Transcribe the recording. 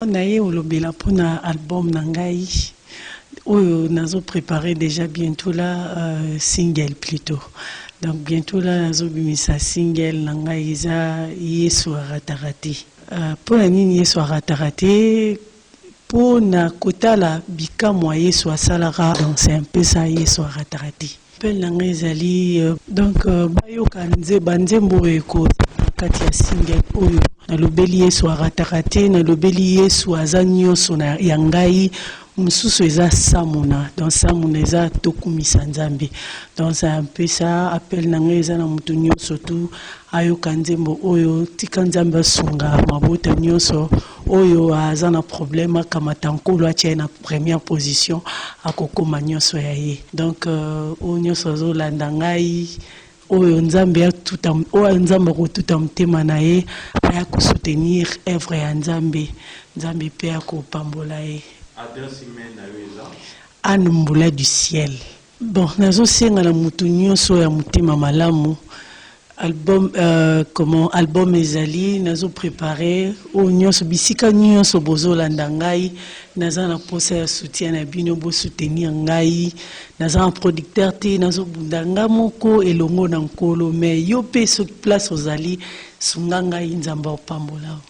Naye olobela pona album na ngai oyo nazo preparer dejà bientot là single plutot donc bientot là nazo bimisa single na ngai eza yesu a rataka te pona nini yesu a rataka te pona kotala bikamua yesu asalaka donc c'est un peu ça yesu a rataka te. Appel na nga ezali donc bayoka nze ba nzembo oyo ekozala na kati ya single oyo. Nalobeli Yesu arataka te, nalobeli Yesu aza nionso na ya ngai. Mosusu eza Samuna donc Samuna eza tokumisa Nzambe donc c'est un peu ça. Appel na nga eza na moto nionso tout ayoka nzembo oyo. Tika Nzambe asunga mabota nionso. Oyo aza na problème akamata nkolo atia ye na première position akokoma nyonso ya ye donc euh, oyo nyonso azolanda ngai oyo nzambe atuta oyo nzambe akotuta motema na ye aya kosoutenir œuvre ya nzambe nzambe mpe akopambola ye adresse email na yo eza anne mbula du ciel Bon nazo senga na mutu nioso ya mutema malamu album euh, comment album ezali nazo prepare oyo nioso bisika nioso bozo landa ngai naza na posa ya soutien na bino bo soutenir ngai naza na producteur te nazo bunda nga moko elongo na nkolo mais yo pe soki place ozali sunga ngai nzambe opambola